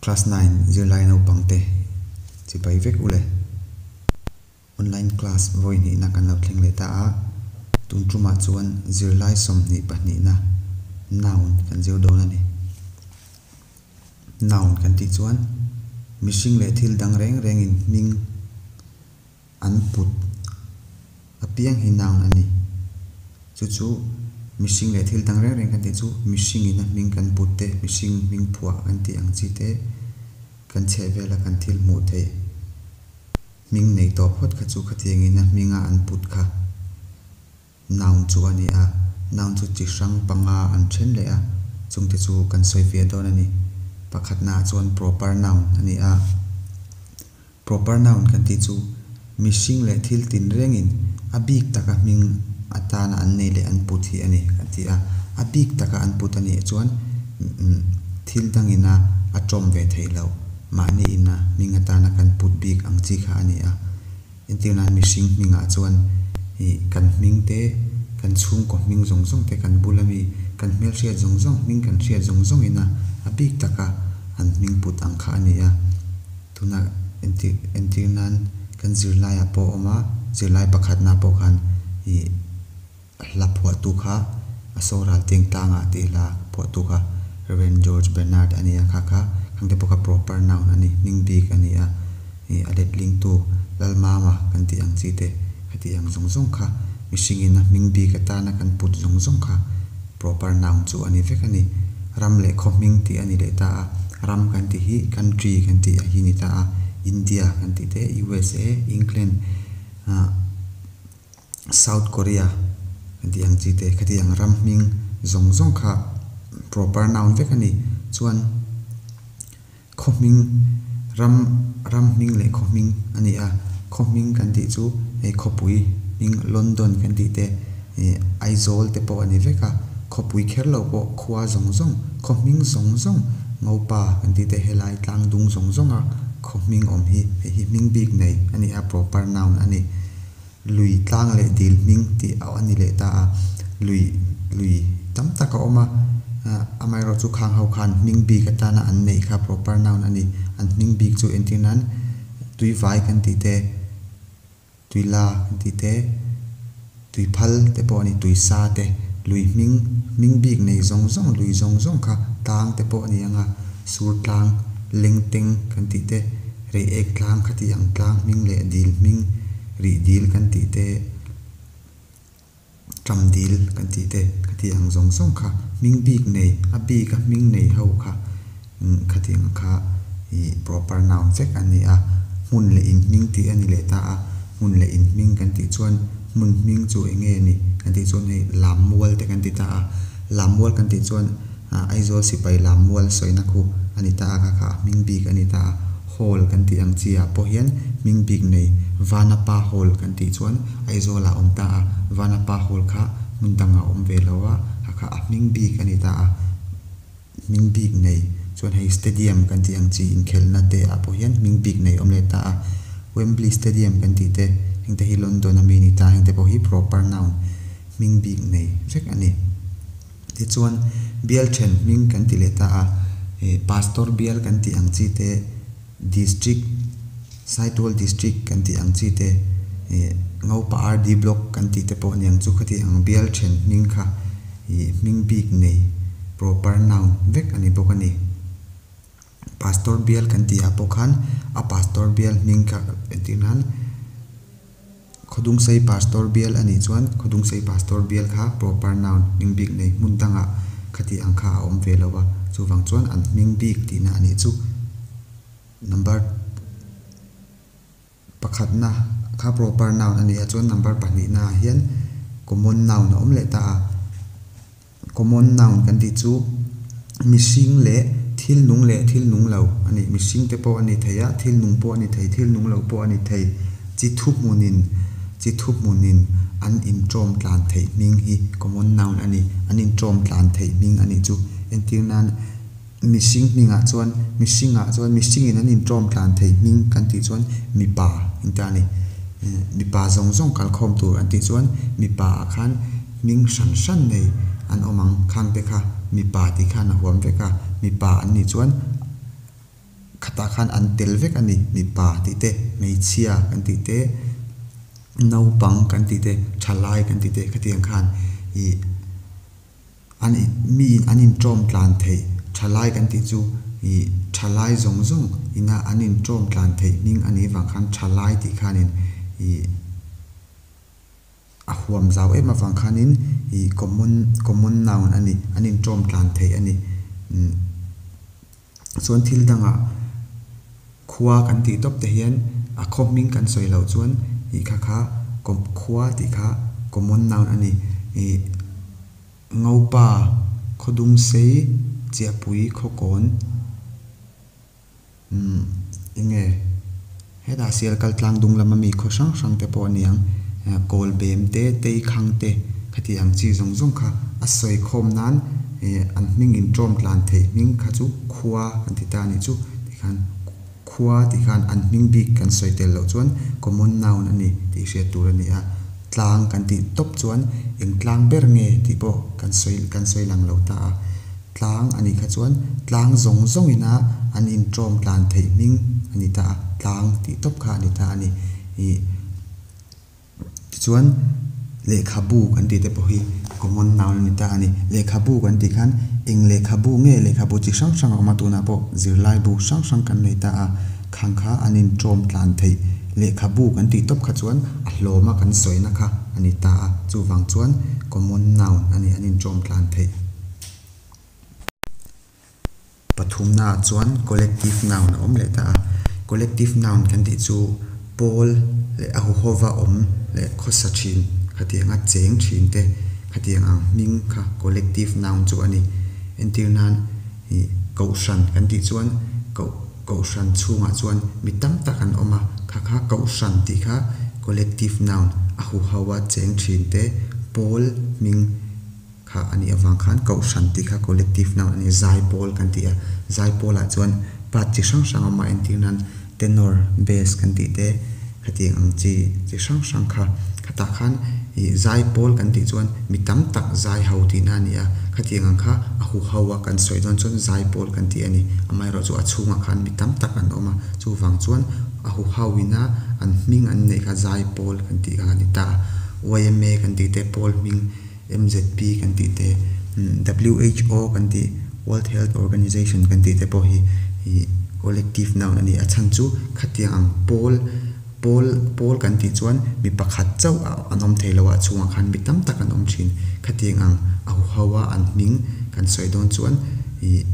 Class nine zirlai naupang te chipai vek u le. Online class vawi hnihna kan lo thleng leh ta a, tum tum ah chuan zirlai sawmhnih pahnih na noun kan zir dawn a ni. Noun kan tih chuan mihring leh thil dang reng reng in hming, An put a pianghinang a ni. Chu chu mihring leh thil dang reng reng kan tih chu mihringin a hming kan put te, mihring hming phuah kan tih ang chi te kan chheh vel a kan thil hmuh theih hming nei tawh phawt kha chu khatiangin a hminga an put kha. Naung chu a ni a, naung chu chi hrang panga an then leh a, chungte chu kan sawifiah dawn a ni. Pakhat naah chuan proper noun a ni a, proper noun kan tih chu mihring leh thil tinrengin a bik taka hming atana an nei leh an put hi a ni kan ti a. A bik taka an put a nih chuan thil dangina a tawm ve theih loh mahniin a hming atana kan put bik ang chi kha a ni a. Entir nan mihring hmingah chuan i kan hming te, kan chhungkaw hming zawng zawng te, kan bula mi, kan hmelhriat zawng zawng hming, kan hriat zawng zawng in a a bik tak a an hming put ang kha a ni a. Tuna entir entir nan kan zirlaiah pawh awm a, zirlai pakhatna pawh khan i Hla phuahtu kha a saw ral teng tang a tih hla phuahtu kha Rev. George Bernard a nia, kha kha khangte pawh kha proper noun a ni, hming bik a ni a, ih a letlingtu Lalmama kan tih ang chi te ka tih ang zawng zawng kha mihringin a hming bik atana kan put zawng zawng kha proper noun chu a ni vek a ni. Ram leh khawhming tih a ni leh ta a, ram kan tih hi country kan tih a hi ni ta a, India kan tih te, USA, England, ah, South Korea a tih ang chi te ka ti ang ram hming zawng zawng kha proper noun vek a ni chuan khaw hming ram ram hming leh khaw hming a ni a khaw hming kan tih chu hei khawpui hming London kan tih te eh Aizawl te pawh a ni vek a khawpui kher lo pawh khua zawng zawng khaw hming zawng zawng Ngopa kan tih te helai tlang dung zawng zawng a khaw hming awm hi hei hi hming bik nei a ni a proper noun a ni. lui tlang leh dil hming tih a ni leh ta a, lui lui tam tak a awm a, amaherawhchu chu khang ho khan hming bik atana an neih kha proper noun a ni. An hming bik chu entir nan tuivai kan tih te, tuila kan tih te, tuiphal te pawh a ni, tuisa te, lui hming, hming bik nei zawng zawng, lui zawng zawng kha tlang te pawh a ni ang a, sur tlang, lengteng kan tih te. Rih ek tlang, khatih ang tlang hming leh dil hming, rih dil kan tih te, ṭam dil kan tih te, khatih ang zawng zawng kha hming bik nei, a bik a hming nei ho kha khatih ang kha ih proper noun vek a ni a. Hmun leh inhming tih a ni leh ta a, hmun leh inhming kan tih chuan hmun hming chu eng nge ni kan tih chuan hei lam mual te kan ti ta a, lam mual kan tih chuan, Aizawl sipai lam mual sawina khu a ni ta a, ka kha a hming bik a ni ta a, Hall kan tih ang chi ah pawh hian hming bik nei Vanapa Hall kan tih chuan Aizawl ah awm ta a, Vanapa Hall kha hmun dang ah awm ve lo a, ka kha a hming bik a ni ta a, hming bik nei chuan hei Stadium kan tih ang chi inkhelhna te ah pawh hian hming bik nei awm leh ta a, Wembley Stadium kan tih te heng te hi London ami a ni ta a, heng te pawh hi proper noun hming bik nei vek a ni. Tichuan, Bialthen hming kan ti leh ta a, Pastor Bial kan tih ang chi te, District, Saitual District kan tih ang chi te, Ngaupa RD Block kan tih te pawh niang chu khati ang. Bialthen hming kha hming bik nei, proper noun, vek a ni bawk a ni. Pastor Bial kan tihah pawh khan a Pastor Bial hming kha entirnan, Khawdungsei Pastor bial a nih chuan Khawdungsei Pastor bial kha proper noun, hming bik nei hmun danga khatih ang kha a awm ve lo a, chuvang chuan an hming bik tihna a nih chu number pakhatna kha proper noun a nih a chuan number pahnihna ah hian common noun a awm leh ta a. Common noun kan tih chu mihring leh thil nung leh thil nung lo a ni. Mihring te pawh a ni thei a, thil nung pawh a ni thei, thil nung lo pawh a ni thei. Chi thu hmunin, chi thu hmunin an intawm tlan theih hming hi common noun a ni. An intawm tlan theih hming a nih chu. Entir nan. Mihring hningah chuan, mihringah chuan, mihringin an intlawm tlan thei hming kan tih chuan mipa engte a ni. Mipa zawng zawng kalkhawm tur an tih chuan mipaah khan hming hran hran nei an awm ang. Khangte kha mipa tih khan a huam vek a, mipa an nih chuan khatah khan an tel vek a ni. Mipa tih te, hmeichhia kan tih te, naupang kan tih te, thalai kan tih te, khatiang khan ih. An i miin an inṭawm tlan theih ṭha lai kan tih chu i ṭha lai zawng zawng ina an inṭawm tlan theih hming a nih vang khan ṭha lai tih khanin i a huam zau em avang khanin i common common noun a ni, an inṭawm tlan theih a ni. chuan thil danga khua kan tih tawp te hian a khaw hming kan sawi loh chuan ih kha kha kawp khua tih kha common noun a ni. Ih ngopa, khaw dung sei, chiahpui, khaw kawn, umm eng nge. Hetah Sial kal tlang dung lama mi khaw hrang hrang te pawh niang kawl bem te, tei khang te khati ang chi zawng zawng kha a sawi khawm nan an hming in tawm tlan theih hming kha chu khua kan ti ta ni chu tikhan khua tih khan an hming bik kan sawi tel loh chuan common noun a ni tih hriat tur a ni a, tlang kan tih tawp chuan eng tlang ber nge tih pawh kan sawi kan sawi lang lo ta a. Tlang a nih kha chuan tlang zawng zawng in a an in tawm tlan theih hming a ni ta a, tlang tih tawp kha a ni ta a ni. Ih tichuan lehkhabu kan tih te pawh hi common noun a ni ta a ni. Lehkhabu kan tih khan eng lehkhabu nge lehkhabu chi hrang hrang a awm a tunah pawh zirlai bu hrang hrang kan nei ta a, khang kha an in tawm tlan theih lehkhabu kan tih tawp kha chuan a hlawm a kan sawi na kha a ni ta a, chuvang chuan common noun a ni an in tawm tlan theih. Pathumnaah chuan collective noun a awm leh ta a. Collective noun kan tih chu Pawl leh a huhova awm leh khawsa ṭhin khatianga chêng ṭhin te khatiang ang hming kha collective noun chu a ni. Entir nan ih Kohhran kan tih chuan koh Kohhran chhungah chuan mi tam tak an awm a, kha kha Kohhran tih kha collective noun a huhova chêng ṭhin te Pawl hming, kha a nih avang khan Kohhran tih kha collective nang a ni a, Zaipawl kan tih a, Zaipawlah chuan part chi hrang hrang a awm a, entir nan Tenor, Bass kan tih te, khati ang chi chi hrang hrang kha. Khatah khan ih Zaipawl kan tih chuan mi tam tak Zaiho tihna a ni a, khatiang ang kha a huho a kan sawi dawn chuan Zaipawl kan tih a ni. Amaherawh chu a chhungah khan mi tam tak an awm a, chuvang chuan a huho ina an hming an neih kha Zaipawl kan tih kha a ni ta a, YMA kan tih te Pawl hming, MZP kan tih te, who kan tih, World Health Organization kan tih te pawh hi collective noun a ni. A chhan chu khatiang ang pawl, pawl, pawl kan tih chuan mi pakhat chauh a an awm thei lo a, a chhungah khan mi tam tak an awm thin. Khatiang ang a huhau a an hming kan sawi dawn chuan ih.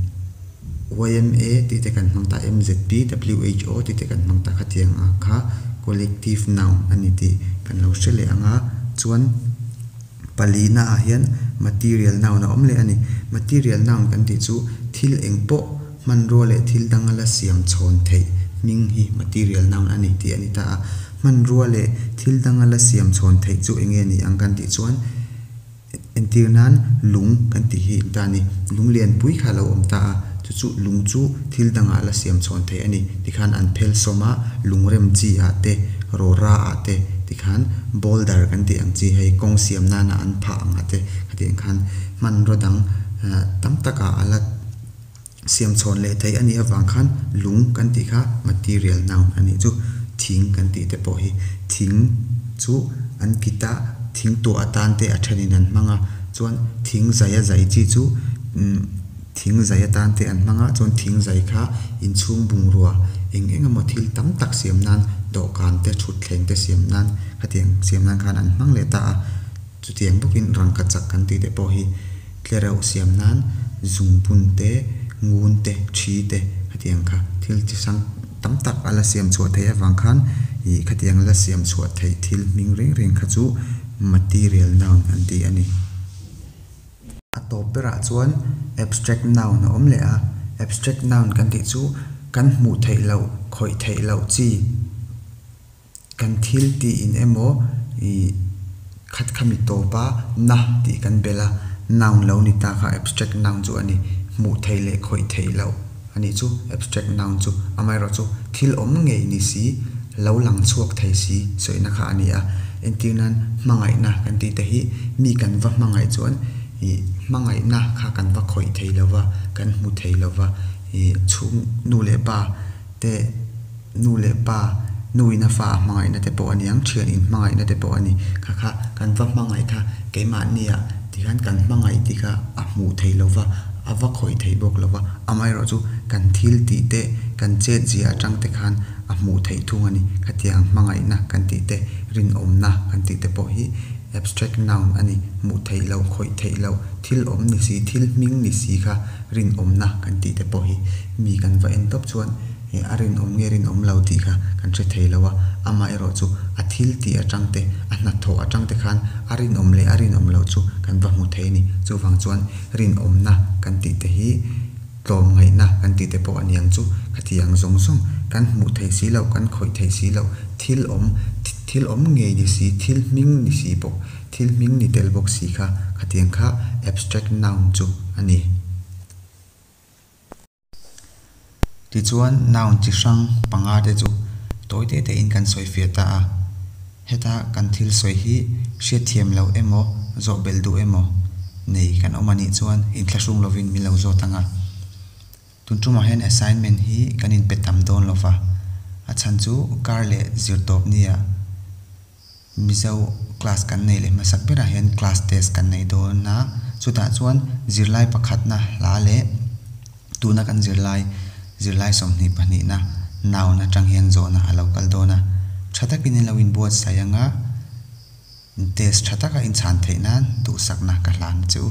YMA tih te kan hmang ta a, MZP, WHO tih te kan hmang ta kha tiang ang kha collective noun a ni tih kan lo hre leh ang a. Chuan pali naah hian material noun a awm leh a ni. Material noun kan tih chu thil eng pawh hmanrua leh thil dang a la siam chhawn theih hming hi material noun a ni tih a ni ta a. Hmanrua leh thil dang a la siam chhawn theih chu eng nge ni ang kan tih chuan, Entir nan lung kan tih hi ta ni. Lung lianpui kha lo awm ta a, chu chu lung chu thil dangah la siam chhawn theih a ni. Tikhan an phel sawm a, lungrem chi ah te, rawra ah te, tikhan boulder kan tih ang chi hei kawng siam nana an phah ang a te, hetiang khan hmanraw dang tam takah a la. Siam chhawn leh theih a nih avang khan lung kan tih kha material noun a nih chu. Thing kan tih te pawh hi thing chu an kit a, thing tuah atan te a thenin an hmang a, chuan thing zai a zai chi chu umm thing zai atan te an hmang a, chuan thing zai kha inchhung bungrua eng eng emaw thil tam tak siam nan dawhkan te thutthleng te siam nan hetiang siam nan khan an hmang leh ta a. Chutiang bawkin rangkachak kan tih te pawh hi-- Tle reuh siam nan zungbun te, ngun te, ṭhi te khatiang kha thil chi hrang tam tak a la siam chhuah theih avang khan ih khatiang a la siam chhuah theih thil hming reng reng kha chu material noun an ti a ni. A tawp berah chuan abstract noun a awm leh a, abstract noun kan tih chu kan hmuh theih loh, khawih theih loh chi, Kan thil tiin emaw i khat kha mi tawp a, na tih kan bel a, noun lo ni ta kha abstract noun chu a ni. Hmuh theih leh khawih theih loh a nih chu abstract noun chu. Amaherawh chu thil awm ngei ni si, lo lang chhuak thei si sawiina kha a ni a. Entir nan hmangaihna kan tih te hi mi kan va hmangaih chuan ih hmangaihna kha kan va khawih thei lo va, kan hmu thei lo va, ih chhung nu leh pa, te, nu leh pa, nu in a fa a hmangaihna te pawh a ni ang, thian in hmangaihna te pawh a ni. Kha kha kan va hmangaih kha keimahni ah tikhan kan hmangaih tih kha a hmuh theih lo va, a va khawih theih bawk lo va, amaherawh chu kan thil tih te, kan chet zia atang te khan a hmuh theih thung a ni. Khatiang ang hmangaihna kan tih te, rinawmna kan tih te pawh hi abstract noun a ni, hmuh theih loh, khawih theih loh, thil awm ni si, thil hming ni si kha rinawmna kan tih te pawh hi. Mi kan va en tawp chuan a rinawm nge rinawm lo tih kha kan hre thei lo a, amah erawh chu a thil tih atang te, a hnathawh atang te khan a rinawm leh a rinawm lo chu kan va hmu thei a ni. Chuvang chuan rinawmna kan tih te hi tlawm ngaihna kan tih te pawh a niang chu khatiang zawng zawng kan hmuh theih si loh, kan khawih theih si loh, thil awm, thil awm ngei ni si, thil hming ni si bawk, thil hming ni tel bawk si kha khatiang kha abstract noun chu a ni. Tichuan noun chi hrang panga te chu tawi teh tehin kan sawi fiah ta a, heta kan thil sawi hi hriatthiam loh emaw, zawhbel duh emaw nei kan awm a nih chuan inthlahrung lovin min lo zawt anga. Tun tumah hian assignment hi kan inpe tam dawn lova, a chhan chu kar leh zirtawp nia. Mizo class kan nei leh hmasak berah hian class test kan nei dawn a, chutah chuan zirlai pakhatna hla leh tuna kan zir lai zirlai sawmhnih pahnihna noun atang hian zawhna a lo kal dawn a, tha takin i lo inbuatsaih ang a, test tha taka inchhan theih nan duhsakna ka hlan che u.